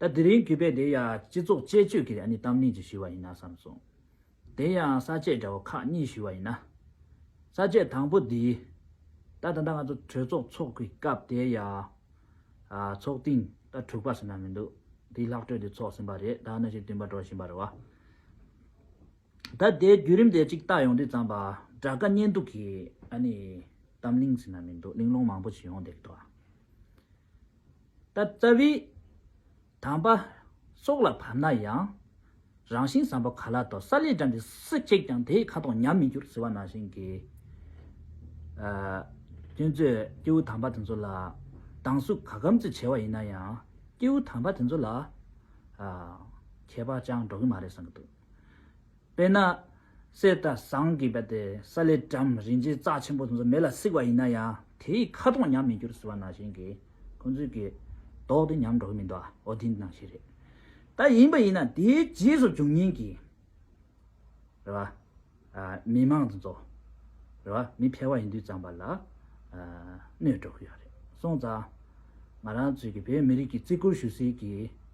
ད་དེ་རིང་གུས་པས་དེ་ཡང་སྤྱི་ཚོགས་དཔྱད་བརྗོད་ཀྱི་གནས་གཏམ་གླིང་གཅིག་ཞུས་པ་ཡིན་ན་བསམ་སོང། དེ་ཡང་ས་བཅད་འདྲ་བོ་ཁག་གཉིས་ཞུས་པ་ཡིན་ན། ས་བཅད་དང་པོ་འདི། ད་ད་ལྟ་ང་ཚོ་གྲོས་ཚོགས་འཚོགས་པའི་སྐབས་དེ་ཡང། ཚོགས་ཐེངས་ད་དྲུག་པ་ཟེར་ན་མི་འདུག་དེའི་ལྷག་གྲོས་དེ་འཚོགས་ཟིན་པ་རེད་ད་གནོད་ཤུགས་བསྟུན་པ་འགྲོ་བཞིན་པ་རེད་བ། ད་དེའི་བརྒྱུད་རིམ་དེ་གཅིག་བལྟ་ཡོང་དུས་ཙམ་པ་དགྲ་དགའ་གཉེན་སྡུག་གི་གནས་གཏམ་གླིང་ཟེར་ན་མི་འདུག་གླིང་སློང་མང་པོ་ཞིག་ཡོང་བསྡད་རེད་བ། ལྟ་བཙའ་བའི། དང་པ། སྲོག་ལ་བབ་ན་ཡང། རང་བཞིན་བཟང་པོ་ག་ལ་དོ་ས་ལས་འགྲམ་གྱི་སུ་གཅིག་ཀྱང་དེའི་ཁ་དོག་ཉམས་མི་འགྱུར་ཟེར་བ་ནང་བཞིན་གྱི། སྐྱོན་བརྗོད་སྐྱེས་བུ་དང་པ་དེ་ཚོ་ལ། སྡང་ཟུག་ག་གམ་ཅི་བྱས་བ་ཡིན་ན་ཡང། སྐྱེས་བུ་དང་པ་དེ་ཚོ་ལ། ཁྱད་པར་ཅང་འགྲོ་གི་མ་རེད་བསམ་གྱི་འདུག། དཔེར་ན། གསེར་དང་ཟངས་ཀྱི་བལ་དེ་ས་ལས་གྲམ་རིང་རྗེས་རྩྭ་ཆེན་པོ་དེ་ཚོ་མེ་ལ་བསྲེགས་པ་ཡིན་ན་ཡང་དེའི་ཁ་དོག་ཉམས་མི་འགྱུར་ཟེར་བ་ནང་བཞིན་གྱིས་ཁོ་ཚོས་ཀྱི་དོག་དེ་ཉམས་འགྲོ་གི་མི་འདུག་ཨོ་དེ་འདི་ནང་བཞིན་རེད། ད་ཡིན་པ་ཡིན་ན་དེའི་རྗེས་སུ་འབྱུང་ཉེན་གྱི་རེད་བ། མི་མང་དེ་ཚོ་རེད་བ་མི་ཕལ་བ་ཡིན་དུས་ཙམ་པ་ལ་གནོད་འགྲོ་གི་ཡོད་རེད་སོང་ཙང། ང་རང་ཚོས་ཀྱི་བོད་མི་རིགས་ཀྱི་བརྩི་བཀུར་ཞུ་སའི་ཀྱི།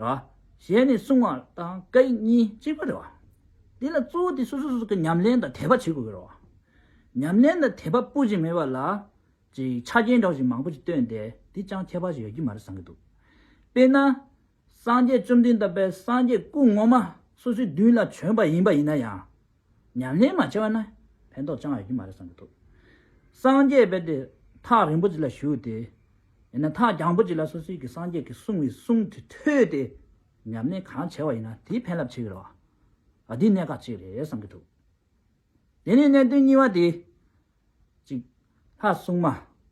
རེད་བ། གཞན་ནས་གསུང་བ་དང་སྐད་ཡིག་གཉིས་གཅིག་པ་རེད་བ། དེ་ལ་གཙོ་བོ་དེ་སོ་སོ་སོ་སོ་གི་ཉམས་ལེན་དང་དད་པ་བྱེད་དགོས་གི་རེད་བ། ཉམས་ལེན་དང་དད་པ་སྤུ་བཞི་མེད་པ་ལ། ཅིག་ཆ་རྐྱེན་གྲོགས་ཞིག་མང་པོ་ཞིག་བཏོན་ཏེ་དེ་ཅང་ཁྱད་པར་ཞིག་ཡོད་ཀྱི་མ་རེད་བསམ་གྱི་འདུག་དཔེར་ན། སངས་རྒྱས་བཅོམ་ལྡན་འདས་དཔལ་སངས་རྒྱས་སྐུ་ངོ་མ་སོ་སོའི་མདུན་ལ་བྱོན་པ་ཡིན་པ་ཡིན་ན་ཡང། ཉམས་ལེན་མ་བྱས་པ་ན་ཕན་ཐོགས་ཅང་ཡོད་ཀྱི་མ་རེད་བསམ་གྱི་འདུག། སངས་རྒྱས་དཔལ་དེ་ཐག་རིང་པོ་ཅིག་ལ་བཞུགས་ཏེ། ཡིན་ན་ཐག་རྒྱང་པོ་ཅིག་ལ་སོ་སོའི་གི་སངས་རྒྱས་ཀྱི་གསུང་བའི་གསུང་དེ་ཐོས་ཏེ། ཉམས་ལེན་གང་བྱས་པ་ཡིན་ན་དེའི་ཕན་རླབས་ཆེ་གི་རེད། འདི་གནད་འགག་ཅིག་རེད་བསམ་གྱི་འདུག། དེ་ནས་གནད་དོན་གཉིས་པ་དེ། གཅིག། ལྷ་སྲུང་མ།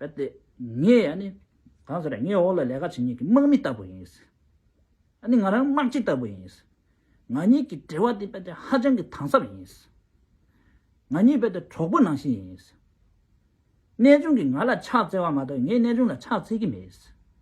གལ་ཏེ་ངས་ཡང་ནི། གང་ཟེར་ན་ངའི་འོག་ལ་ལས་ཀ་བྱེད་མཁན་གྱི་དམག་མི་ལྟ་བུ་ཡིན། ཡང་ནི་ང་རང་དམག་སྤྱི་ལྟ་བུ་ཡིན། ང་གཉིས་ཀྱི་འབྲེལ་བ་དེ་ཧ་ཅང་གི་དྭངས་གསབ་ཡིན། ང་གཉིས་གྲོགས་པོ་ནང་བཞིན་ཡིན། གནས་ཆུང་གིས་ང་ལ་ཕྱག་བཙལ་བ་མ་གཏོགས་ངས་གནས་ཆུང་ལ་ཕྱག་འཚལ་གྱི་མེད།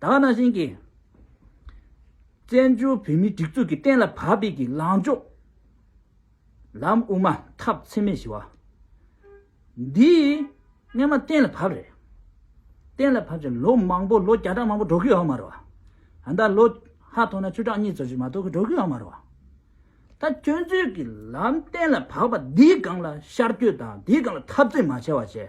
དག་སྣང་ཞིང། བཙན་བྱོལ་བོད་མིའི་སྒྲིག་འཛུགས་ཀྱི་གཏན་ལ་ཕབ་པའི་གི་ལངས་ཕྱོགས། ལམ་དབུ་མ་འཐབ་འཚེ་མེད་ཞི་བ། འདི་སྔ་མ་གཏན་ལ་ཕབ་རེད། གཏན་ལ་ཕབ་ཅིང་ལོ་མང་པོ་ལོ་བརྒྱ་ཕྲག་མང་པོ་འགྲོ་གི་ཡོད་མ་རེད། ད་ལྟ་ལོ་ཧ་ཐོག་ན་བཅུ་ཕྲག་གཉིས་ཙམ་ཞིག་མ་གཏོགས་གི་འགྲོ་གི་ཡོད་མ་རེད། ད་ཁྱོད་ཚོས་གི་ལམ་གཏན་ལ་ཕབ་པ་འདིའི་སྒང་ལ་ཤར་སྐྱོད་དང་འདིའི་སྒང་ལ་འཐབ་རྩོད་མ་བྱས་བ་བྱས།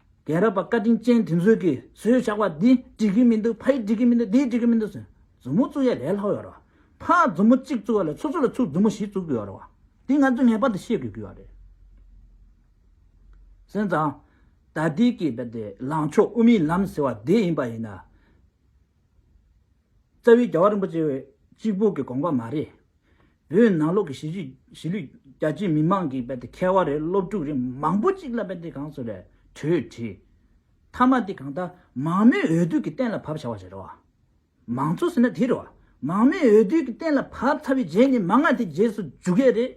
རྒན་རབས་པ་བཀའ་དྲིན་ཅན་དེ་ཚོས་ཀྱི་ཟོས་ཞག་པ་འདི་འགྲིག་གི་མི་འདུག་ཕ་ཡིས་འགྲིག་གི་མི་འདུག་དེས་འགྲིག་གི་མི་འདུག་ཟེར། མཛུབ་མོ་བཙུགས་ཡ་ལས་ལྷག་ཡོད་རེད་བ། ཕ་མཛུབ་མོ་གཅིག་བཙུགས་ཡ་ལས་ཚུར་ཚུར་ལ་ཚུར་མཛུབ་མོ་བཞི་བཙུགས་དགོས་ཡོད་རེད་བ། དེ་ང་ཚོས་ངེས་པར་དུ་ཤེས་དགོས་ཀྱི་ཡོད་རེད། སེམས་ཙང། ད་ལྟའི་ཀྱི་བ་དེ་ལངས་ཕྱོགས་དབུ་མའི་ལམ་ཟེར་བ་དེ་ཡིན་པ་ཡིན་ན། རྩ་བའི་རྒྱལ་བ་རིན་པོ་ཆེ་བས་གཅིག་པུ་གི་དགོངས་པ་མ་རེད། བོད་ནང་ལོག་གི་གཞིས་ལུས་རྒྱ་ཆེའི་མི་མང་གི་རྦད་དེ་མཁས་བ་རེད་སློབ་ཕྲུག་རེད་མང་པོ་གཅིག་ལ་རྦད་དེ་གངས་སུ་རེད་གྲོས་བྲིས། མཐའ་མ་དེ་གང་ལྟར་མང་མོས་འོས་བསྡུ་གི་གཏན་ལ་ཕབ་བྱ་བ་རེད་རོ། མང་གཙོ་ཟེར་ན་དེ་རེད་བ། མང་མོས་འོས་བསྡུ་གི་གཏན་ལ་ཕབ་ཚར་བའི་རྗེས་ནས་མ་ང་དེ་རྗེས་སུ་འཇུག་གི་རེད།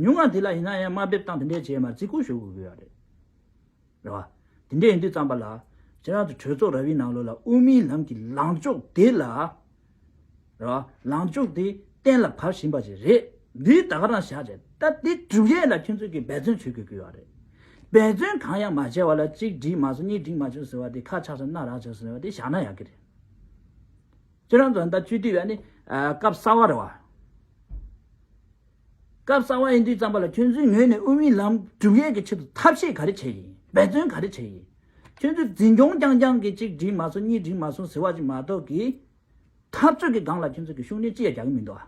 ཉུང་ང་དེ་ལ་ཡིན་ན་ཡང་དམའ་འབེབས་སྟངས་དེ་འདྲའི་བྱས་མ་རེད་རྩིས་ཁུར་ཞུ་དགོས་གི་ཡོད་རེད། རེད་བ། དེ་འདྲས་ཡིན་དུས་བརྩམས་པ་ལ། ཁྱེད་རང་ཚོ་གྲོས་ཚོགས་ར་བའི་ནང་ལོགས་ལ་དབུ་མའི་ལམ་གྱི་ལངས་ཕྱོགས་དེ་ལ། རེད་བ། ལངས་ཕྱོགས་དེ་གཏན་ལ་ཕབ་བཞིན་པ་ཞིག་རེད། འདིའི་ད་ག་རང་བཞག་བྱས་ད་དེ་གྲུབ་རྗེས་ལ་ཁྱོད་ཚོས་ཀྱིས་འབད་བརྩོན་བྱེད་དགོས་ཀྱི་བ་རེད། འབད་བརྩོན་གང་ཡང་མ་བྱས་བ་ལ་གཅིག་བསྒྲིགས་མ་སོང་གཉིས་བསྒྲིགས་མ་བྱུང་ཟེར་བ་དེ་ཁ་ཆག་ཆག་སྣ་རག་བྱུང་ཟེར་བ་དེ་བཞག་ན་ཡག་གི་རེད། ཁྱེད་རང་ཚོ་ད་བཅོས་དུས་བས་ནི་སྐབས་གསར་བ་རེད་བ། སྐབས་གསར་བ་ཡིན་དུས་རྩམ་པ་ལ་ཁྱོད་ཚོའི་ངོས་ནས་དབུ་མའི་ལམ་སྒྲུབ་ཡས་ཀྱི་ཆེད་དུ་ཐབས་ཤེས་ག་རེ་བྱས་ཡིན་འབད་བརྩོན་ག་རེ་བྱས་ཡིན། ཁྱོད་ཚོས་འཛིན་སྐྱོང་རྐྱང་རྐྱང་གིས་གཅིག་བསྒྲིལ་མ་སོང་གཉིས་བསྒྲིལ་མ་སོང་ཟེར་བ་ཅིག་མ་གཏོགས་ཀྱི། འཐབ་རྩོད་ཀྱི་སྒང་ལ་ཁྱོད་ཚོ་གིས་ཤུགས་སྣོན་ཅི་ཡང་རྒྱག་གི་མི་འདུག་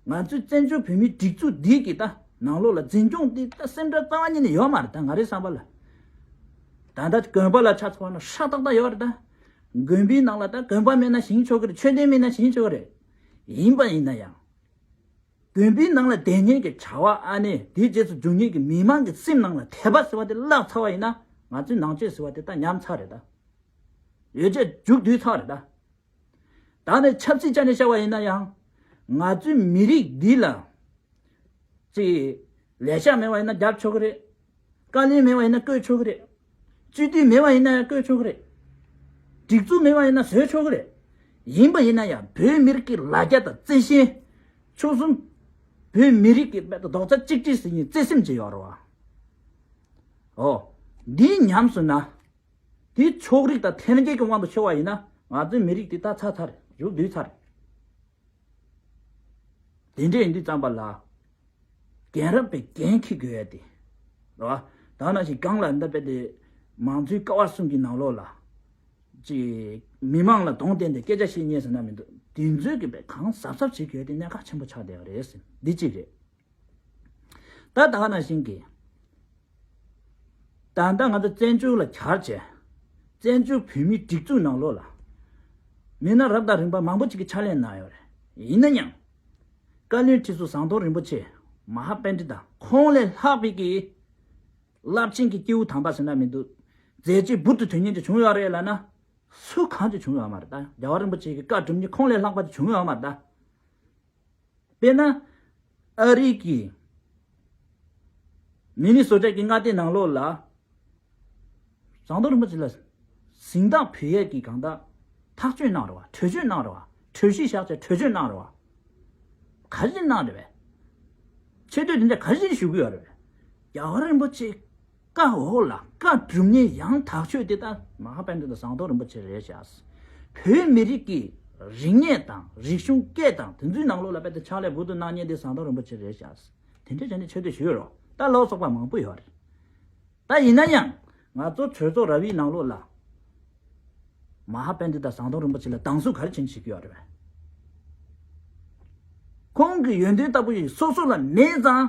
ཨ། ང་ཚོའི་བཙན་བྱོལ་བོད་མིའི་སྒྲིག་འཛུགས་འདི་གི་ད་ནང་ལོགས་ལ་འཛིན་སྐྱོང་དེ་ད་སེམས་ཁྲལ་རྩ་བ་ཉིད་ནས་ཡོད་མ་རེད་ད་ང་རའི་བསམ་པ་ལ། ད་ད་གོན་པ་ལ་ཆ་ཚང་བ་ན་ཧྲ་ཏག་ཏག་ཡོད་རེད་ད། དགོན་པའི་ནང་ལ་ད་གོན་པ་མེད་ན་ཞིང་ཆོག་གི་རེད་ཆོས་ལྡན་མེད་ན་ཞིང་ཆོག་གི་རེད། ཡིན་པ་ཡིན་ན་ཡང། དགོན་པའི་ནང་ལ་བསྡད་ཉན་གྱི་བྱ་བ་ཨ་ནེ་དེའི་རྗེས་སུ་འཇུག་ཉེན་གྱི་མི་མང་གི་སེམས་ནང་ལ་དད་པ་ཟེར་བ་དེ་བརླག་ཚར་བ་ཡིན་ན་ང་ཚོའི་ནང་ཆོས་ཟེར་བ་དེ་དག་ཉམས་ཚར་རེད་ད། ཡོད་ཚད་རྒྱུགས་དུས་ཚར་རེད་ད། ད་ནི་ཆབ་སྲིད་ཅག་ནས་བཤད་བ་ཡིན་ན་ཡང། ང་ཚོའི་མི་རིགས་འདི་ལ། ཅིག། ལས་ཤག་མེད་བ་ཡིན་ན་རྒྱབ་ཆོག་གི་རེད། བཀའ་ལན་མེད་པ་ཡིན་ན་བསྐོས་ཆོག་གི་རེད། སྤྱི་མཐུས་མེད་པ་ཡིན་ན་ཡང་བསྐོས་ཆོག་གི་རེད། སྒྲིག་འཛུགས་མེད་པ་ཡིན་ན་བཟོས་ཆོག་གི་རེད། ཡིན་པ་ཡིན་ན་ཡང་བོད་མི་རིགས་ཀྱི་ལ་རྒྱ་དང་བརྩེ་ཞེན། ཆོལ་གསུམ། བོད་མི་རིགས་ཀྱི་དཔལ་དུ་རྡོག་རྩ་གཅིག་སྒྲིལ་ཟིན་ཡིན་བརྩེ་སེམས་བཅས་ཡོད་རེད། ཨོ། འདིའི་ཉམས་སུ་ན། དེ་ཕྱོགས་རིགས་དང་ཐན་སྐད་ཀྱི་དབང་དུ་ཕྱེ་བ་ཡིན་ན་ང་ཚོའི་མི་རིགས་དེ་ད་ཚ་ཚ་རེད་བཞུགས་དུས་ཚ་རེད། དེ་འདྲའི་འདི་བརྩམས་པ་ལ། རྒན་རབས་པའི་འགན་འཁྱེར་དགོས་ཡ་དེ། རེད་བ། དག་ན་ཞིག་སྒང་ལ་འདི་དཔེ་དེ། མང་གཙོའི་ཀ་བ་གསུམ་གྱི་ནང་ལོགས་ལ། ཅིག། མི་མང་ལ་དོང་བསྟན་ཏེ་སྐད་ཆ་བཤད་ཉེས་ཟེར་ན་མི་འདུག་དེ་འཛོལ་གི་པའི་གང་གཟབ་གཟབ་བྱེད་དགོས་ཡ་དེ་གནད་འགག་ཆེན་པོ་ཆགས་བསྡད་པ་རེད། འདི་གཅིག་རེད། ད་ལྟ་ང་ཚོ་བཙན་བྱོལ་ལ་གྱར་རྗེས། བཙན་བྱོལ་བོད་མིའི་སྒྲིག་འཛུགས་ནང་ལོགས་ལ། མི་སྣ་རབ་དང་རིམ་པ་མང་པོ་ཅིག་གིས་ཕྱག་ལས་གནང་ཡོད་རེད། ཡིན་ན་ཡང། བཀའ་བློན་ཁྲི་ཟུར་ཟམ་གདོང་རིན་པོ་ཆེ་མ་ཧཱ་དཔལ་ཁྲི་དང། ཁོང་ལས་ལྷག་པའི་གི། རླབས་ཆེན་གྱི་སྐྱེས་བུ་དམ་པ་ཟེར་ན་མི་འདུག། མཛད་རྗེས་འབུར་དུ་དོན་གཉེར་ཅིག་བྱུང་ཡོད་རེད་ལབ་ན། སུ་གང་ཅིག་བྱུང་ཡོད་མ་རེད་ད། རྒྱལ་བ་རིན་པོ་ཆེ་གི་བཀའ་སྒྲུབ་ནི་ཁོང་ལས་ལྷག་པ་ཅིག་བྱུང་ཡོད་མ་རེད་ད། དཔེར་ན། ཨ་རིག་གི། མི་ནི་བཟོ་གྲྭས་ཀྱི་མངའ་སྡེ་ནང་ལོགས་ལ། བཟང་མདོག་རིན་པོ་ཆེ་ལ། གཟིངས་རྟགས་བུ་ཡས་ཀྱི་གང་དག། ཐག་གཅོད་གནང་རོགས་གྲོས་གཅོད་གནང་རོགས། གྲོས་གཞི་བཞག་ཆ་གྲོས་གཅོད་གནང་རོགས། ག་རེ་གནང་རེད་བས། ཆེ་བསྟོད་དེ་འདྲ་ག་རེ་ཞུ་གི་ཡོད་རེད་བས། རྒྱ་གར་རིན་པོ་ཆེ། བཀའ་འོག་ལ་བཀའ་བསྒྲུབ་ནས་ཡང་དག་ཆོས་དེ་དག་མ་ཧཱ་དཔལ་ལྡན་དང་ཟངས་མདོག་རིན་པོ་ཆེ་རེད་བྱས། བོད་མི་རིགས་ཀྱི་རིག་གནས་དང་རིག་གཞུང་སྐད་དང་དེ་ཚོའི་ནང་ལོགས་ལ་དཔེ་དེ་ཕྱག་ལས་བུ་དུ་སྣང་བརྙན་དེ་ཟངས་མདོག་རིན་པོ་ཆེ་རེད་བྱས། དེ་འདྲ་བྱས་ནས་ཆོས་དེ་ཞུས་རོགས་ལྟ་ལོག་སོག་པ་མང་པོ་ཡོད་རེད། ད་ཡིན་ན་ཡང་ང་ཚོ་གྲོས་ཚོགས་ར་བའི་ནང་ལོགས་ལ་མ་ཧཱ་དཔལ་ལྡན་དང་ཟངས་མདོག་རིན་པོ་ཆེ་ལ་སྡང་ཟུག་ག་རེ་བྱེད་ནས་བྱེད་ཀྱི་ཡོད་རེད་བས། ཁོང་གི་ཡོན་ཏན་ལྟ་བུ་ཞིག་སོ་སོ་ལ་མེད་ཙང་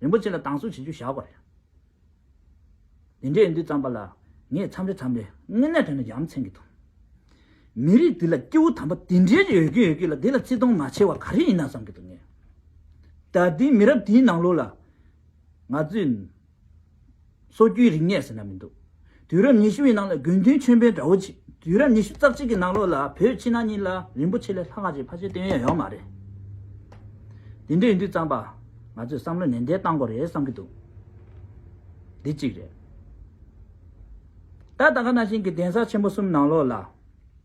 རིན་པོ་ཆེ་ལ་དྭངས་གསོལ་བྱེད་རྒྱུ་བཞག་པ་རེད། དེ་འདྲས་ཡིན་དུས་བརྩམས་པ་ལ་ངས་མཚམས་རེ་མཚམས་རེ་དངོས་གནས་དོན་ལ་ཡ་མཚན་གྱི་འདུག། མི་རིགས་འདི་ལ་སྐྱེ་བོ་དམ་པ་དེ་འདྲས་ཀྱི་ཡོད་ཀྱི་ཡོད་ཀྱི་ལ་དེ་ལ་བརྩི་མཐོང་མ་བྱས་བ་ག་རེ་ཡིན་ན་བསམ་གྱི་འདུག་ངས། ད་ལྟའི་མི་རབས་དེའི་ནང་ལོགས་ལ་ང་ཚོས། སོ་རྒྱུས་རིག་གནས་ཟེར་ན་མི་འདུག་དུས་རབས་ཉི་ཤུ་བའི་ནང་ལ་དགོས་འདུན་ཆོས་འཕེལ་འདྲ་བོ་ཆེ་དུས་རབས་ཉི་ཤུ་རྩ་གཅིག་གི་ནང་ལོགས་ལ་བོད་ཕྱི་ནང་གཉིས་ལ་རིན་པོ་ཆེ་ལས་ལྷག་ང་ཅིག་ཕ་ཆེ་བསྟོད་ཡོད་ཡོད་མ་རེད། དེ་འདྲ་ཡིན་དུས་གཙང་པ་ང་ཚོས་བསམ་བློ་ནན་ཏན་བཏང་དགོས་རེད་བསམ་གྱི་འདུག་འདི་གཅིག་རེད། ད་ད་ག་ན་ཞིང་གི་གདན་ས་ཆེན་པོ་གསུམ་ནང་ལོགས་ལ།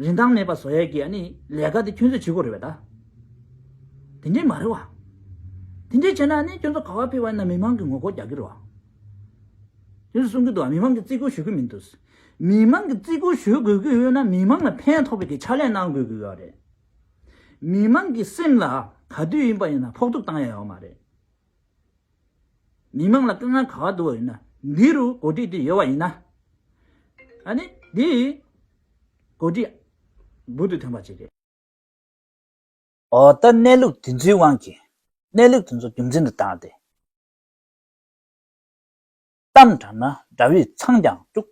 རིན་ཐང་མེད་པ་བཟོ་ཡས་ཀྱི་ལས་ཀ་དེ་ཁྱོད་ཚོས་བྱེད་དགོས་རེད་བས་ད། དེ་འདྲས་མ་རེད་བ། དེ་འདྲས་བྱས་ན་ཁྱོད་ཚོ་ག་བ་ཕེབས་བ་ཡིན་ན་མི་མང་གི་ངོ་རྒོལ་རྒྱག་གི་རེད་བ། ཁྱོད་ཚོས་གསུང་གི་འདུག་བ་མི་མང་གི་བརྩི་བཀུར་ཞུ་གི་མི་འདུག། མི་མང་གི་བརྩི་བཀུར་ཞུ་དགོས་ཀྱི་ཡོད་ན་མི་མང་ལ་ཕན་ཐོགས་པའི་གི་ཕྱག་ལས་གནང་དགོས་ཀྱི་ཡོད་བ་རེད། མི་མང་གི་སེམས་ལ་ག་དུས་ཡིན་པ་ཡིན་ན་ཕོག་ཐུག་བཏང་ཡས་ཡོད་མ་རེད། མི་མང་ལ་སྐུ་ངལ་ག་བ་འདུག་ཡིན་ན་འདི་རུ་གོ་སྒྲིག་དེ་ཡོད་བ་ཡིན་ན། ཨ་ནི་འདི་ཡི་གོ་སྒྲིག་འབུར་དུ་ཐོན་པ་ཅིག་རེད། འོ་ད་གནས་ལུགས་དེ་ཚོའི་དབང་གིས་གནས་ལུགས་དེ་ཚོ་རྒྱུ་མཚན་དུ་བཏང་སྟེ། གཏམ་དྲངས་ན་དགྲ་བོས་འཚང་ཀྱང་སྤྲུག།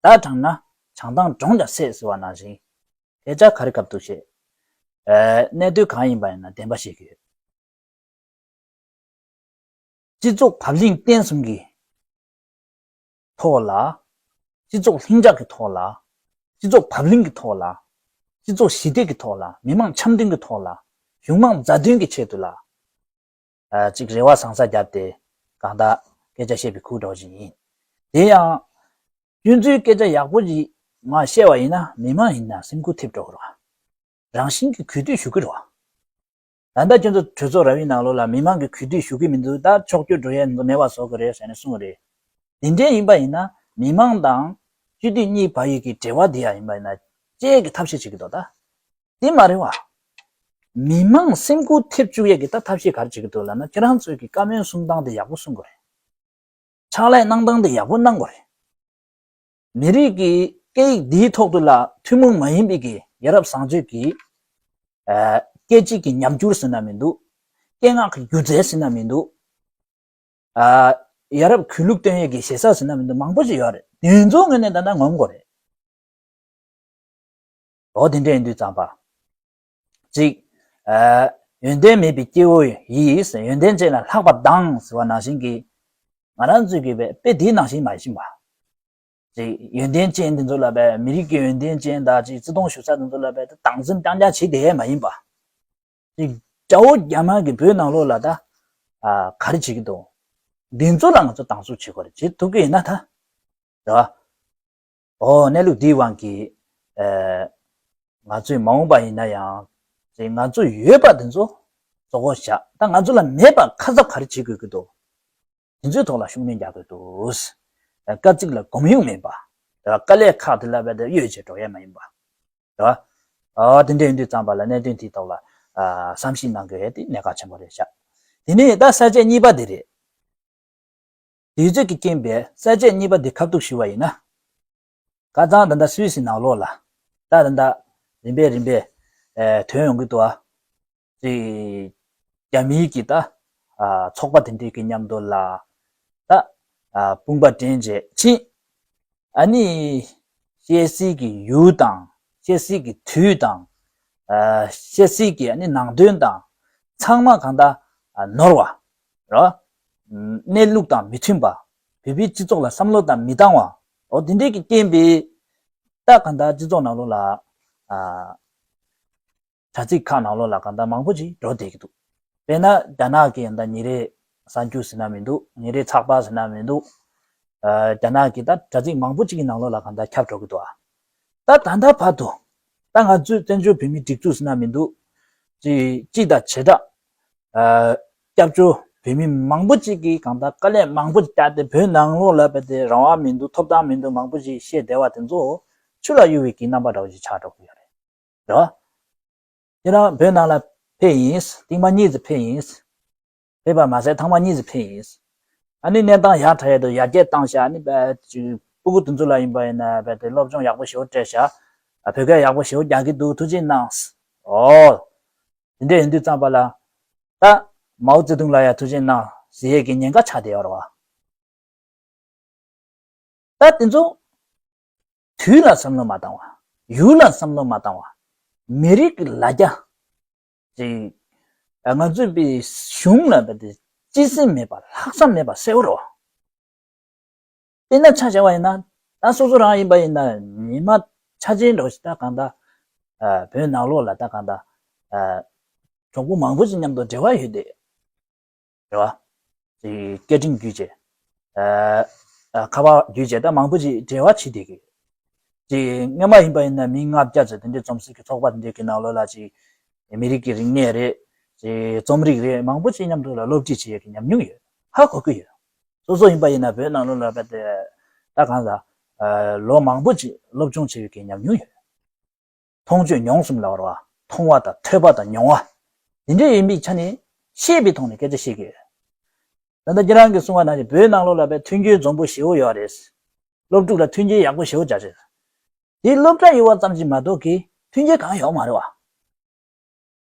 བརྡ་དྲངས་ན་བྱང་ཐང་འབྲོང་ཀྱང་བསད་ཟེར་བ་ནང་བཞིན། དེ་ཅག་ག་རེ་གབ་འདུག་བྱེད། གནད་དོན་གང་ཡིན་པ་ཡིན་ན་བདེན་པ་བཤད་ཀྱི་ཡོད། སྤྱི་ཚོགས་བབ་བརླིང་བརྟན་གསུམ་གྱི་ཐོག་ལ། སྤྱི་ཚོགས་ལྷིང་འཇགས་ཀྱི་ཐོག་ལ། སྤྱི་ཚོགས་བབ་བརླིང་གི་ཐོག་ལ། སྤྱི་ཚོགས་ཞི་བདེ་གི་ཐོག་ལ་མི་དམངས་འཆམ་མཐུན་གྱི་ཐོག་ལ་གཞུང་དམངས་མཛའ་མཐུན་གྱི་ཆེད་དུ་ལ། ཅིག་རེ་བ་བཟང་ས་བརྒྱབ་སྟེ་གང་དག་སྐད་ཆ་བཤད་པའི་ཁུག་སྒྲོག་ཞིག་ཡིན། དེ་ཡང། སྐྱོན་འཛུལ་སྐད་ཆ་ཡག་པོ་ཞིག་ང་བཤད་བ་ཡིན་ན་མི་དམངས་ཡིན་ན་སེམས་ཁུར་ཐེབས་འགྲོ་གི་རེད། རང་བཞིན་གྱིས་གུས་འདུད་ཞུ་གི་རེད། ད་ལྟ་ཁྱོད་ཚོ་གྲོས་ཚོགས་ར་བའི་ནང་ལོགས་ལ་མི་མང་གིས་གུས་འདུད་ཞུ་གི་མི་འདུག་ད་ཕྱོགས་སྐྱོད་འགྲོ་ཡས་མེད་པ་བཟོ་གི་རེད་ཟེར་ནས་གསུང་གི་རེད། དེ་འདྲས་ཡིན་པ་ཡིན་ན་མི་མང་དང་སྤྱི་འཐུས་གཉིས་བར་ཡིག་གི་འབྲེལ་བ་དེ་ཡག་ཡིན་པ་ཡིན་ན་དཔྱད་གི་ཐབས་ཤེས་བྱེད་གི་འདུག་ད་དེ་མ་རེད་བ། མི་མང་སེམས་ཁུར་ཐེབས་བཅུག་ཡས་གི་ད་ཐབས་ཤེས་ག་རེ་བྱེད་གི་འདུག་ལབ་ན་ཁྱེད་རང་ཚོས་གི་བཀའ་མོལ་གསུང་སྟངས་དེ་ཡག་པོ་གསུང་གི་རེད། ཕྱག་ལས་གནང་སྟངས་དེ་ཡག་པོ་གནང་གི་རེད། མི་རིགས་ཀྱི་སྐད་ཡིག་འདིའི་ཐོག་ཏུ་ལ་ཐུན་མོང་མ་ཡིན་པའི་ཡ་རབས་བཟང་སྤྱོད་ཀྱི། སྐད་ཅིག་གི་ཉམས་འགྱུར་ཟེར་ན་མི་འདུག། སྐད་ངག་གི་སྒྱུ་རྩལ་ཟེར་ན་མི་འདུག། ཡ་རབས་གུས་ལུགས་སྟོན་ཡས་ཀྱི་ཞེ་ས་ཟེར་ན་མི་འདུག་མང་པོ་ཞིག་ཡོད་རེད། དེ་ཚོའི་ངོས་ནས་བལྟས་ན་ངོམ་གོ་རེད། འོ་དེ་འདྲ་ཡིན་དུས་གཙང་པ། གཅིག། ཡོན་ཏན་མེད་པའི་སྐྱེ་བོ་ཡིས་ཡོན་ཏན་ཅན་ལ་ལྷག་པར་སྡང་ཟེར་བ་ནང་བཞིན་གྱི། ང་རང་ཚོས་གྱི་དཔེ་དེའི་ནང་བཞིན་མ་ཡིན་པ། གཅིག། ཡོན་ཏན་ཅན་དེ་ཚོ་ལ་མི་རིགས་ཀྱི་ཡོན་ཏན་ཅན་དག་ཅིག་བརྩི་མཐོང་ཞུ་ས་དེ་ཚོ་ལ་སྡང་སེམས་རྐྱང་རྐྱང་བྱེད་དེ་མ་ཡིན་པ། གཅིག། དགྲ་བོ་རྒྱ་དམར་གྱིས་བོད་ནང་ལོག་ལ་ད་ག་རེ་བྱེད་ཀྱི་འདུག་འདི་ཚོ་ལ་ང་ཚོ་སྡང་ཟུག་བྱེད་དགོས་རེད་བྱེད་ཐུབ་ཀྱི་ཡིན་ན་ད། རེད་བ། ཨོ་གནས་ལུགས་འདིའི་དབང་གིས། ང་ཚོས་མ་འོངས་པ་ཡིན་ན་ཡང། ཅེས་ང་ཚོ་ཡོད་པ་དེ་ཚོ་བཟོ་འགོ་བཞག་ད་ང་ཚོ་ལ་མེད་པ་ཁ་གསབ་ག་རེ་བྱེད་དགོས་ཀྱི་འདུག་དེ་ཚོའི་ཐོག་ལ་ཤུགས་སྣོན་རྒྱག་དགོས་འདུག། སྐར་རྩིག་ལ་གོམས་ཡུག་མིན་པ། དེ་བ་དཀའ་ལས་ཁག་དེ་ལ་བས་ད་གཡོལ་བྱེད་འགྲོ་ཡས་མ་ཡིན་པ། དེ་བ། ཨོ་དེ་འདྲས་ཡིན་དུས་ཙམ་པ་ལ་གནད་དོན་དེའི་ཐོག་ལ། བསམ་གཞིག་གནང་དགོས་དེ་གནད་འགག་ཆེན་པོ་རེད་བཞག་དེ་ནས་ད་ས་བཅད་གཉིས་པ་དེ་རེད། དུས་ཚོད་ཀྱིས་རྐྱེན་པས་ས་བཅད་གཉིས་པ་འདི་ཁ་ཐུག་ཞུ་བ་ཡིན་ན། ཀ་ཙང་འདི་འདྲ་སུས་ཟིན་ནག་ལོག་ལ། རྟགས་འདི་འདྲ། རིམ་པས་རིམ་པས། དོན་ཡོང་གི་འདུག་ཨ། ཅེས། རྒྱ་མིའི་གི་ད། ཚོགས་པ་དེ་འདྲའི་གི་མཉམ་དུ་ལ། ད། དཔུང་པ་འདྲེན་བྱས་ཕྱིན། ཨ་ནི། བཤད་སྲིད་གི་ཡུལ་དང། བཤད་སྲིད་གི་དུས་དང། བཤད་སྲིད་གི་ནང་དོན་དང། ཚང་མ་གང་ད། ནོར་བ། ར། གནས་ལུགས་དང་མི་མཐུན་པ། བོད་པའི་སྤྱི་ཚོགས་ལ་བསམ་བློ་དང་མི་འདང་བ། འོ་དེ་འདྲས་ཀྱི་བསྟན་པའི། རྟགས་གང་དག་སྤྱི་ཚོགས་ནང་ལོགས་ལ། དྲ་ཚིགས་ཁག་ནང་ལོགས་ལ་གང་དག་མང་པོ་ཅིག་འགྲོ་བསྡད་ཀྱི་འདུག། དཔེར་ན་རྒྱ་ནག་གི་ཡང་ད་ཉིན་རེའི་གསར་འགྱུར་ཟེར་ན་མི་འདུག་ཉིན་རེའི་ཚགས་པར་ཟེར་ན་མི་འདུག། རྒྱ་ནག་གི་ད་དྲ་ཚིགས་མང་པོ་ཅིག་གི་ནང་ལོགས་ལ་གང་དག་ཁྱབ་འགྲོ་གི་འདུག་ཨ། ད་ད་ལྟ་བར་དུ། ད་ང་ཚོས་བཙན་བྱོལ་བོད་མིའི་སྒྲིག་འཛུགས་ཟེར་ན་མི་འདུག། སྤྱི་དང་བྱེ་བྲག་སྐྱབས་བཅོལ་བོད་མི་མང་པོ་ཅིག་གིས་གང་ལྟར་དཀའ་ལས་མང་པོ་ཅིག་བསྐྱལ་ཏེ་བོད་ནང་ལོག་ལབ་པ་དེ་རང་དབང་མི་འདུག་ཐོབ་ཐང་མི་འདུག་མང་པོ་ཞིག་བཤད་བསྡད་པ་དེ་ཚོ་ཆུ་ལ་གཡུག་བའི་གྱི་རྣམ་པ་འདྲ་བོ་ཞིག་ཆགས་འགྲོ་གི་ཡོད་རེད། རེད་བ། ཁྱེད་རང་བོད་ནང་ལ་ཕེབས་ཡིན། རྟིང་མ་གཉིས་ཙི་ཕེབས་ཡིན། ཕེབས་པ་མ་ཟད་ཐང་མ་གཉིས་ཙི་ཕེབས་ཡིན། ཨ་ནི་གནས་སྟངས་ཡག་ད་ཡོད་འདུག་ཡར་རྒྱས་བཏང་ཤག་ཨ་ནི་རྦད་དེ་སྤུ་གུ་དེ་ཚོ་ལ་ཡིན་པ་ཡིན་ན་རྦད་དེ་སློབ་སྦྱོང་ཡག་པོ་ཞེ་བོ་སྤྲད་ཤག་བོད་སྐད་ཡག་པོ་ཞེ་བོ་རྒྱག་གི་འདུག་ཐུགས་རྗེ་གནང། ཨོ། དེ་འདྲའི་འོས་བསྡུ་བརྩམས་པ་ལ། ད། མའོ་ཙེ་ཏུང་ལ་ཡང་ཐུགས་ཆེན་གནང། གཟི་ཡས་ཀྱི་ཉེན་ཁ་ཆགས་བདེ་བར་བ། ད་དེ་ཚོ། དུས་ལ་བསམ་བློ་མ་བཏང་བ། ཡུལ་ལ་བསམ་བློ་མ་བཏང་བ། མི་རིགས་ཀྱི་ལ་རྒྱ། ཅིག། ང་ཚོས་པའི་གཞུང་ལ་བལྟས་ཏེ་སྤྱི་སེམས་མེད་པ་ལྷག་བསམ་མེད་པ་གསལ་བོར་རོ། དཔེར་ན་ཆ་བྱ་བ་ཡིན་ན་ད་སོ་སོ་རང་ཡིན་པ་ཡིན་ན་ཉི་མ་ཆ་ཅན་འགྲོ་ཞིག་ད་གང་ད་བོད་ནག་ལོག་ལ་ད་གང་ད་གྲོགས་པོ་མང་པོ་ཞིག་མཉམ་དུ་འབྲེལ་བ་ཡོད་དེ་རེད་བ། ཅེས་སྐད་འཕྲིན་བརྒྱུད་བྱས། ཁ་པར་བརྒྱུད་བྱས་ད་མང་པོ་ཞིག་འབྲེལ་བ་བྱེད་དེ་གི། ཅེས་ངེད་མ་ཡིན་པ་ཡིན་ན་མི་ལྔ་བརྒྱ་ཅིག་དེ་འདྲའི་རྩོམ་སྲིད་ཀྱི་ཚོགས་པ་དེ་འདྲའི་གི་ནང་ལོག་ལ་ཅིག་མི་རིགས་ཀྱི་རིག་གནས་རེད། ཅེས་རྩོམ་རིག་རེད་མང་པོ་ཞིག་མཉམ་དུ་ལ་སློབ་ཁྲིད་བྱེད་ཡོད་གི་ཉམས་མྱོང་ཡོད་ཧ་གོ་གི་ཡོད། སོ་སོ་ཡིན་པ་ཡིན་ན་བོད་ནང་ལོ་ལ་བལྟ་གང་ལ། ལོ་མང་པོ་ཅིག་སློབ་སྦྱོང་བྱས་ཡོད་ཀྱི་ཉམས་མྱོང་ཡོད། མཐོང་ཆོས་མྱོང་གསུམ་ལ་བར་བ། མཐོང་བ་དང་ཐོས་པ་དང་མྱོང་བ། འདི་འདྲ་ཡིན་པའི་ཆ་ནས་ཤེས་པའི་ཐོག་ནས་སྐད་ཆ་བཤད་ཀྱི་ཡོད། ད་ལྟ་ཁྱེད་རང་གིས་གསུང་བ་ནང་བཞིན་བོད་ནང་ལོ་ལ་བལྟ་མཐུན་རྐྱེན་འཛོམས་པོ་ཞེ་བོ་ཡོད་པ་རེད། སློབ་ཕྲུག་ལ་མཐུན་རྐྱེན་ཡག་པོ་ཞེ་བོ་བྱ་རེད། དེ་སློབ་གྲྭ་ཡོད་བ་ཙམ་གྱིས་མ་གཏོགས་གི་མཐུན་རྐྱེན་གང་ཡོང་མ་རེད་བ།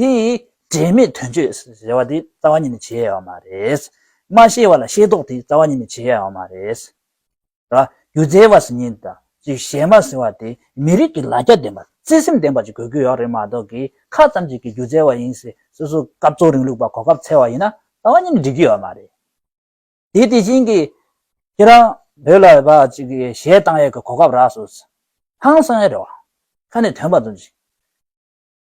དེ་ཡིས་དྲན་མེད་དོན་སྤྱོད་ཟེར་བ་དེ་རྩ་བ་ཉིད་ནས་བྱེད་ཡ་བ་མ་རེད། མ་ཤེས་བ་ལ་ཤེས་རྟོགས་དེ་རྩ་བ་ཉིད་ནས་བྱེད་ཡ་བ་མ་རེད། ར་རྒྱུ་རྫས་བ་ཟེར་ཉིད་དང་ཅིག་གཞན་མ་ཟེར་བ་དེ་མི་རིགས་ཀྱི་ལ་རྒྱ་ལྡན་པ་བརྩེ་སེམས་ལྡན་པ་ཅིག་དགོས་ཀྱི་ཡོད་རེད་མ་གཏོགས་ཀྱི་ཁ་ཙམ་ཅིག་གིས་རྒྱུ་རྫས་བ་ཡིན་ཟེར་སོ་སོ་སྐབས་གཙོ་རིང་ལུགས་པ་གོ་སྐབས་འཚལ་བ་ཡིན་ན་རྩ་བ་ཉིད་ནས་འགྲིག་གི་ཡོད་མ་རེད། དེ་དེ་བཞིན་གྱི་ཁྱེད་རང་བོད་ལ་བ་ཅིག་གིས་གཞས་བཏང་ཡས་ཀྱི་གོ་སྐབས་རགས་སོ། ཧང་སང་ཡས་རེད་བ། ཁ་ནས་དོན་པ་འཛོམས་ཤིག།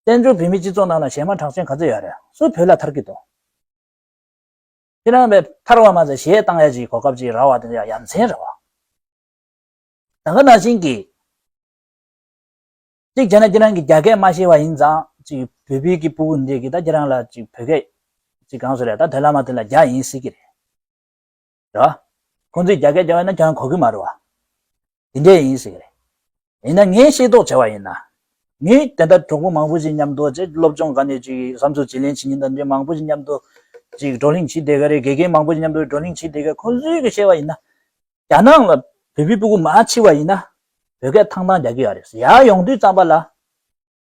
བཙན་བྱོལ་བོད་མིའི་སྤྱི་ཚོགས་ནང་ལ་ཞེ་མ་གྲགས་ཅན་ག་ཚོད་ཡོད་རེད་སུ་བོད་ལ་ཐར་གི་འདུག་ཁྱེད་རང་བས་ཐར་བ་མ་ཟད་གཞས་བཏང་ཡ་ཅིག་གོ་སྐབས་ཅིག་ར་བ་དེ་འདྲ་ཡ་མཚན་རེད་བ། ད་ག་ན་བཞིན་གྱི། གཅིག་བྱས་ན་ཁྱེད་རང་གིས་རྒྱ་སྐད་མ་ཤེས་བ་ཡིན་ཙང་ཅིག་བོད་བུད་ཀྱི་པུ་གུ་འདྲས་ཀྱིས་ད་ཁྱེད་རང་ལ་ཅིག་བོད་སྐད་ཅིག་གང་སུ་རེད་ད་དོན་ལ་མ་ཐོན་ལ་རྒྱ་ཡིན་སྲིད་ཀྱི་རེད། རེད་བ། ཁོང་ཚོས་རྒྱ་སྐད་རྒྱབ་ན་ཀྱང་གོ་གི་མ་རེད་བ། དེ་འདྲས་ཡིན་ཟེར་གི་རེད། ཡིན་ན་ངས་ཤེས་རྟོགས་བྱས་བ་ཡིན་ན། ངས་དེ་ལྟར་གྲོགས་པོ་མང་པོ་ཞིག་མཉམ་དུ་ཅིག་སློབ་སྦྱོང་ག་ནས་ཅིག་བསམ་ཚུལ་བརྗེ་ལེན་བྱེད་ཉིན་དང་འབྲེལ་མང་པོ་ཞིག་མཉམ་དུ་ཅིག་བགྲོ་གླེང་བྱེད་བསྡད་གི་རེད་དགེ་རྒན་མང་པོ་ཞིག་མཉམ་དུ་བགྲོ་གླེང་བྱེད་བསྡད་གི་ཁོང་ཚོས་གི་བཤད་བ་ཡིན་ན། རྒྱ་ནག་ལ་བོད་པའི་སྤུ་གུ་མ་མཆིས་བ་ཡིན་ན། བོད་སྐད་ཐང་ཐང་རྒྱག་གི་ཡ་རེད་ཟེར་ཡ་ཡོང་དུས་ཙམ་པ་ལ།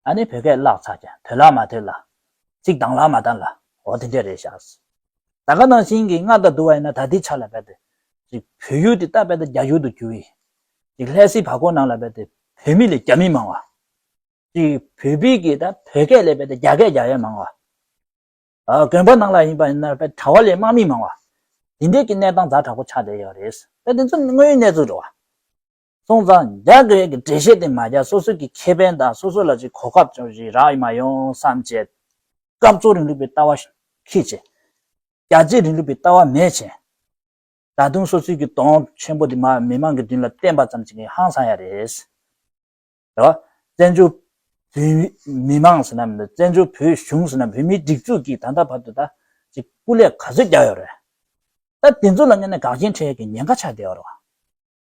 ཨ་ནི་བོད་སྐད་བཀླགས་ཚར་ཀྱང་ཐོས་ལག་མ་ཐོས་ལ། ཚིག་གདངས་ལག་མ་གདངས་ལ་འོ་དེ་འདྲས་རེད་ཤགས། ད་ག་ནང་བཞིན་གྱི་སྔར་ལྟར་བསྡུར་བ་ཡིན་ན་ད་དེའི་ཆ་ལ་བལྟ། ཅིག་བོད་ཡུལ་དེ་ལྟ་བལྟ་རྒྱ་ཡུལ་དུ་གྱུར། ཅིག་ལྷས་སྲིད་བར་སྐོར་ནང་ལ་བལྟ་བོད་མི་ལས་རྒྱ་མི་མང་བ། ཅིག་བོད་པའི་གིས་ད་བོད་སྐད་ལས་བལྟ་རྒྱ་སྐད་རྒྱ་ཡས་མང་བ། ཨ་དགོན་པ་ནང་ལ་ཡིན་པ་ཡིན་ན་བལྟ་གྲྭ་བ་ལས་དམག་མི་མང་བ། དེ་འདྲས་ཀྱི་གནས་སྟངས་རྫ་དྲག་པོ་ཆགས་བསྡད་ཡོད་རེད། བལྟ་དེ་ཚོ་དངོས་ཡོད་གནས་ཚུལ་རེད་བ། སོང་ཙང་རྒྱག་དགོས་ཡས་ཀྱི་འགྲེལ་བཤད་དེ་མ་རྒྱག་སོ་སོས་ཀྱི་ཁེ་ཕན་དང་སོ་སོ་ལ་ཅིག་གོ་སྐབས་ཅུང་ཞིག་རག་ཡོད་མ་ཡོང་བསམ་བྱས། སྐབས་གཙོ་རིང་ལུགས་པའི་ལྟ་བ་ཤིག་ཁེ་བྱས། རྒྱ་རྩིས་རིང་ལུགས་པའི་ལྟ་བ་མེད་བྱས། ད་དུང་སོ་སོས་ཀྱི་དོང་ཆེན་པོ་དེ་མ་མི་མང་གི་མདུན་ལ་བསྟན་པ་ཙམ་ཅིག་ཧང་སང་ཡ་རེད། རེད་བ། བཙན་བྱོལ་བོད་མི་མང་ཟེར་ན་མི་འདུག་བཙན་བྱོལ་བོད་གཞུང་ཟེར་ན་བོད་མིའི་སྒྲིག་འཛུགས་ཀྱིས་ད་ལྟ་བར་དུ་ད་ཅིག་སྐུ་ལས་ག་ཚོད་རྒྱག་ཡོད་རེད། ད་དེ་ཚོ་ལ་མཉན་ན་དགག་རྐྱེན་འཕྲད་ཡས་ཀྱི་ཉེན་ཁ་ཆགས་བསྡད་ཡོད་རེད་བ།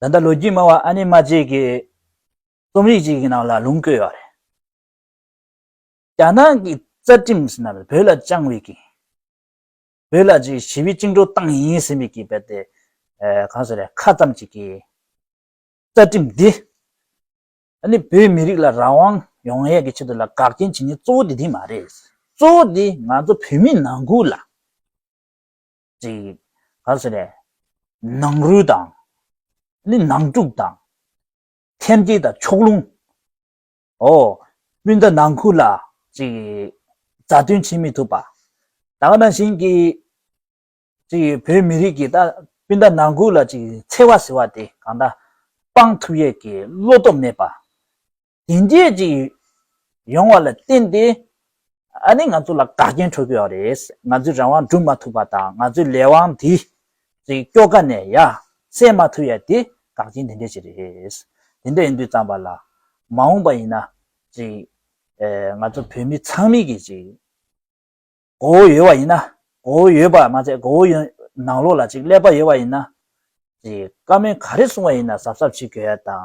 ད་ལྟ་ལོ་རྒྱུས་སྨྲ་བ་ཨ་ནེ་མ་ཅིག་གིས་རྩོམ་རིག་ཅིག་གི་ནང་ལ་ལུང་བཀོད་ཡོད་རེད། རྒྱ་ནག་གི་རྩ་ཁྲིམས་ཟེར་ན་བོད་ལ་བཅངས་བའི་གིས། བོད་ལ་ཅིག་ཞི་བའི་བཅིངས་འགྲོལ་བཏང་ཡིན་ཟེར་བའི་གིས་བལྟས་ཏེ་གང་ཟེར་ཡང་ཁ་ཙམ་ཅིག་གིས་རྩ་ཁྲིམས་འདི་ཨ་ནེ་བོད་མི་རིགས་ལ་རང་དབང་ཡོང་ཡས་ཀྱི་ཆེད་དུ་ལ་དགག་རྐྱེན་བྱེད་ནི་གཙོ་བོ་དེ་དེ་མ་རེད། གཙོ་བོ་དེ་ང་ཚོ་བོད་མི་ནང་ཁུལ་ལ། ཅིག། ག་ཟེ་རེད། ནང་རུལ་དང། ནི་ནང་དཀྲུགས་དང། ཐེམ་སྐས་དང་ཕྱོགས་ལྷུང། ཨོ། སྤུན་ཟླ་ནང་ཁུལ་ལ། ཅིག། མཛའ་མཐུན་བྱེད་མི་ཐུབ་པ། ད་ག་ནང་བཞིན་གྱི། ཅིག། བོད་མི་རིགས་ཀྱི་ད་སྤུན་ཟླ་ནང་ཁུལ་ལ་ཅིག་འཚེ་བ་ཟེར་བ་དེ་གང་ད། སྤང་ཐུབ་ཡས་ཀྱི་བློ་སྟོབས་མེད་པ། དེ་འདྲའི་ཅིག་ཡོང་བ་ལ་བརྟེན་ཏེ་ཨ་ནི་ང་ཚོ་ལ་དགའ་རྒྱན་འཕྲོད་དགོས་བ་རེད་ང་ཚོའི་རང་དབང་བསྒྲུབ་མ་ཐུབ་པ་དང་ང་ཚོའི་ལས་དབང་འདི་ཅིག་སྐྱོ་ག་ནས་ཡ་སེ་མ་ཐུབ་ཡ་དེ་དགའ་རྒྱན་དེ་འདྲའི་ཅིག་རེད་དེ་འདྲ་ཡིན་དུས་ཙམ་པ་ལ་མ་འོངས་པ་ཡིན་ན་ཅིག་ཨེ་ང་ཚོ་བོད་མི་ཚང་མིག་གི་ཅིག་མགོ་བོ་ཡོད་བ་ཡིན་ན་མགོ་བོ་ཡོད་པ་མ་ཚད་མགོ་བོ་ཡོད་ནང་ལོགས་ལ་ཅིག་ཀླད་པ་ཡོད་བ་ཡིན་ན་ཅིག་བཀའ་མོལ་ག་རེ་གསུང་བ་ཡིན་ན་གཟབ་གཟབ་བྱེད་དགོས་ཡ་དང་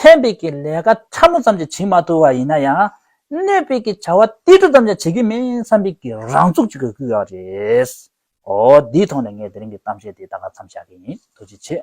ཕན་འབྲས་ཀྱི་ལས་ཀ་ཕྲ་མོ་ཙམ་ཅིག་བྱེད་མ་ཐུབ་པ་ཡིན་ན་ཡང་གནོད་སྤེལ་གྱི་བྱ་བ་ཏིལ་འབྲུ་ཙམ་ཀྱང་བྱེད་རྒྱུ་མིན་བསམ་པའི་གི་རང་ཚུགས་ཅིག་གིས་སྐུལ་ཡག་རེད། འོ་དེའི་ཐོག་ནས་ངས་དེ་རིང་གི་གཏམ་བཤད་དེ་ད་ག་མཚམས་བཞག་གི་ཡིན་ཐུགས་རྗེ་ཆེ།